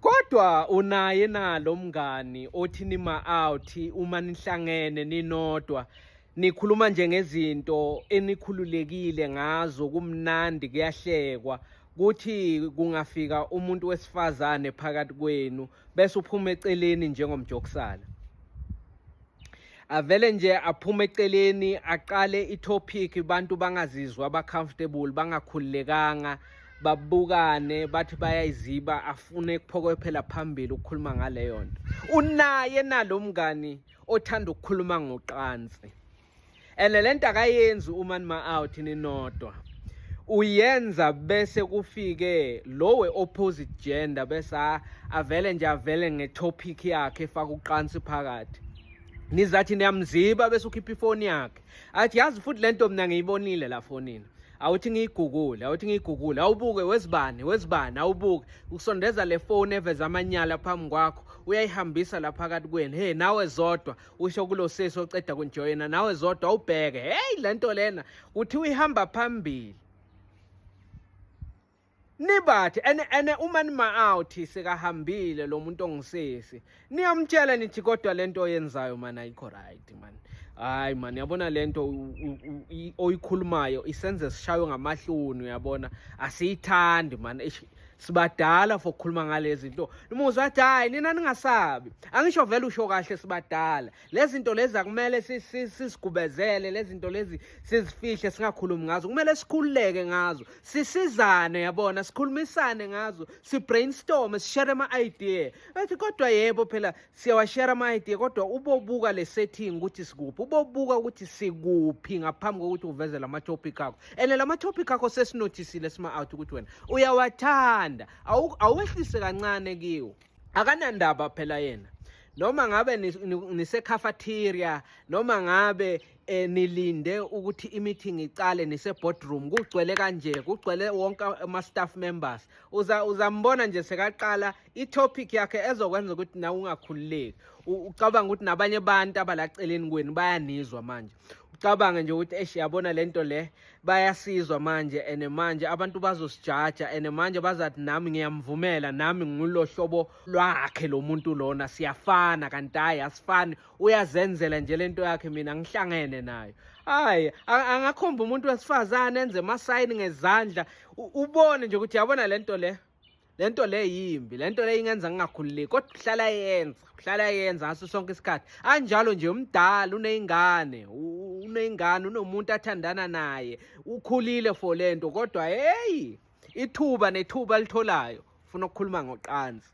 Kodwa unaye na lo mngani othi nima out uma nihlangene ninodwa nikhuluma nje ngezinto enikhululekile ngazo kumnandi kuyahlekwa kuthi kungafika umuntu wesifazane phakathi kwenu bese uphuma eceleni njengomjokisana avele nje aphume eceleni aqale itopic abantu bangazizwa abacomfortable bangakhululekanga babukane bathi bayayiziba afune kuphokophela phambili ukukhuluma ngaleyo nto unaye nalo mngani othanda ukukhuluma ngoqansi and lento akayenzi uma nima out ninodwa uyenza bese kufike lowe opposite gender bese avele nje avele ngetopic yakhe efaka uqansi phakathi nizathi niyamziba bese ukhipha ifoni yakhe athi yazi futhi lento mina ngiyibonile la fonini awuthi ngiyigugule awuthi ngiyigugule awubuke wezibani wezibani awubuke ukusondeza le foni eveza amanyala phambi kwakho uyayihambisa la phakathi kwenu he nawe zodwa usho kulo sesi oceda kunjoyina nawe zodwa ubheke hey lento lena uthi uyihamba phambili nibathi ene ene uma nima out sekahambile lo muntu ongisesi niyamtshela nithi kodwa lento oyenzayo mana ayikho right man hayi man yabona lento oyikhulumayo isenze sishaywe ngamahloni uyabona asiyithandi man sibadala for ukukhuluma ngalezi zinto umuzwa athi hayi nina ningasabi angisho vele usho kahle sibadala lezi zinto lezi akumele sisigubezele lezi zinto lezi sizifihle singakhulumi ngazo kumele sikhululeke ngazo sisizane yabona sikhulumisane ngazo si-brainstorme sishere ama-idea ethi kodwa yebo phela siyawashare ama-idea kodwa ubobuka le setting ukuthi sikuphi ubobuka ukuthi sikuphi ngaphambi kokuthi uveze la ma-topic akho and la ma-topic akho sesinothisile sima-out ukuthi wena uyawathanda awehlise kancane kiwo akanandaba phela yena noma ngabe nisekhafathiria noma ngabe eh, nilinde ukuthi i-meeting iqale nise-boardroom kugcwele kanje kugcwele wonke ama-staff members uzambona nje sekaqala itopic yakhe ezokwenza ukuthi nawe ungakhululeki ucabanga ukuthi nabanye abantu abalaceleni kwenu bayanizwa manje ucabange nje ukuthi esh yabona lento le bayasizwa manje and manje abantu bazosijaja and manje bazathi nami ngiyamvumela nami ngulo hlobo lwakhe lo muntu lona siyafana kanti hayi asifani uyazenzela nje lento yakhe mina ngihlangene nayo hayi angakhomba umuntu wesifazane enze amasayini ngezandla ubone nje ukuthi yabona lento le lento le yimbi lento le ingenza ngingakhululeki kodwa uhlala yenza uhlala yenza ngaso sonke isikhathi anjalo nje umdala uneyingane uneyingane unomuntu athandana naye ukhulile for lento kodwa hey ithuba nethuba alitholayo ufuna ukukhuluma ngoqanzi